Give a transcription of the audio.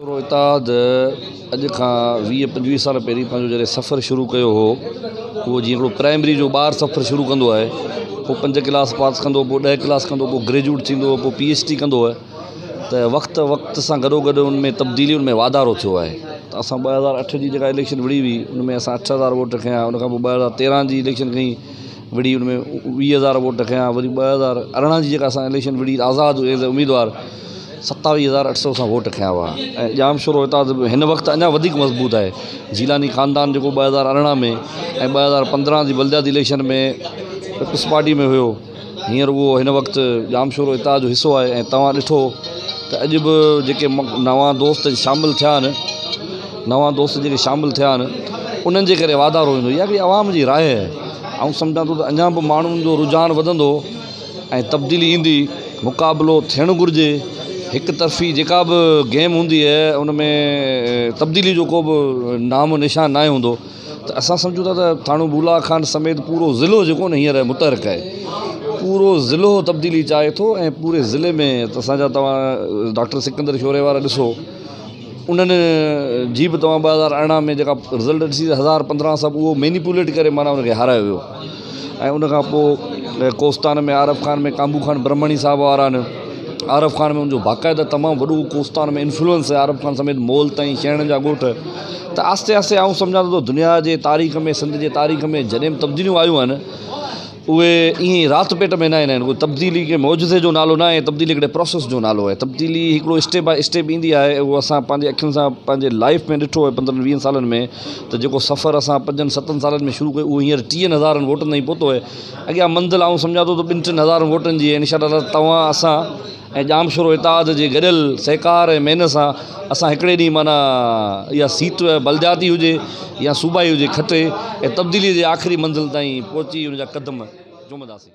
ٿورو اتحاد اڄ کان ويهه پنجويهه سال پهرين پنهنجو جڏهن سفر شروع ڪيو هو اهو جيئن هڪڙو پرائمري جو ٻار سفر شروع ڪندو آهي پوء پنج ڪلاس پاس ڪندو پوء ڏهه ڪلاس ڪندو پوء گريجوئيٽ ٿيندو پوء پي ايڇ ڊي ڪندو آهي ته وقت وقت سان گڏو گڏ ان ۾ تبديلي ان ۾ واڌارو ٿيو آهي ته اسان ٻه هزار اٺ جي جيڪا اليڪشن وڙهي هئي ان ۾ اسان اٺ هزار ووٽ کنيا ان کان پوء ٻه هزار تيرهن جي اليڪشن کئي وڙهي ان ۾ ويهه هزار ووٽ کنيا وري ٻه هزار ارڙهن جي جيڪا اسان اليڪشن وڙهي آزاد ايز اي اميدوار ستاويهه هزار اٺ سو کان ووٽ کنيا هئا ۽ ڄام شورو هتان جو هن وقت اڃا وڌيڪ مضبوط آهي جيلاني خاندان جيڪو ٻه هزار ارڙهن ۾ ۽ ٻه هزار پندرهن جي بلدياتي اليڪشن ۾ پيپلز پارٽي ۾ هيو هينئر اهو هن وقت ڄام شورو اتحاد جو حصو آهي ۽ توهان ڏٺو ته اڄ به جيڪي نوان دوست شامل ٿيا آهن نوان دوست جيڪي شامل ٿيا آهن انهن جي ڪري واڌارو ايندو اها هڪڙي عوام جي راء آهي آئون سمجهان ٿو ته اڃان به ماڻهن جو رجحان وڌندو ۽ تبديلي ايندي مقابلو ٿيڻ گهرجي هڪ طرفي جيڪا به گيم هوندي آهي ان ۾ تبديلي جو ڪو به نام و نشان ناهي هوندو ته اسان سمجهون ٿا ته ٿاڻو بولا خان سميت پورو ضلعو جيڪو آهي هينئر متحرڪ آهي پورو ضلعو تبديلي چاهي ٿو ۽ پوري ضلعي ۾ اسان جا تواں ڊاڪٽر سڪندر شوري وارا ڏسو انهن جي به توهان ٻه هزار ارڙهن ۾ جيڪا رزلٽ ڏسي ته هزار پندرهن سب اهو مينيپوليٽ ڪري معنيٰ ان کي هارايو ويو ۽ ان کان پوء ڪوستان ۾ عارف خان ۾ ڪانبو خان برهمڻي صاحب وارا نه عارف خان ۾ ان جو باقاعده تمام وڏو ڪوستان ۾ انفلوئنس هي عارف خان سميت مول تائين شينهن جا ڳوٺ ته آهستي آهستي آئون سمجهان ٿو ته دنيا جي تاريخ ۾ سنڌ جي تاريخ ۾ جڏهن به تبديليون آيون آهن اهي ائين ئي رات پيٽ ۾ نه ايندا آهن. اهو تبديلي ڪنهن معجزي جو نالو ناهي، تبديلي هڪڙي پراسيس جو نالو آهي. تبديلي هڪڙو اسٽيپ بائي اسٽيپ ايندي آهي ۽ اهو اسان پنهنجي اکين سان پنهنجي لائيف ۾ ڏٺو آهي پندرهن ويهن سالن ۾ ته جيڪو سفر اسان پنجن ستن سالن ۾ شروع ڪيو اهو هينئر ٽيهن هزارن ووٽن تائين پهتو آهي. اڳيان منزل آئون سمجهان ٿو ته ٻن ٽن هزارن ووٽن جي آهي. انشاء الله تعاليٰ توهان اسان ۽ ڄامشورو اتحاد جي گڏيل سهڪار ۽ محنت سان اسان هڪڙي ڏينهن معنيٰ اها سيٽ بلدياتي هجي يا صوبائي هجي کٽي ۽ تبديلي جي آخري منزل تائين پهچي ان جا قدم چومنداسين.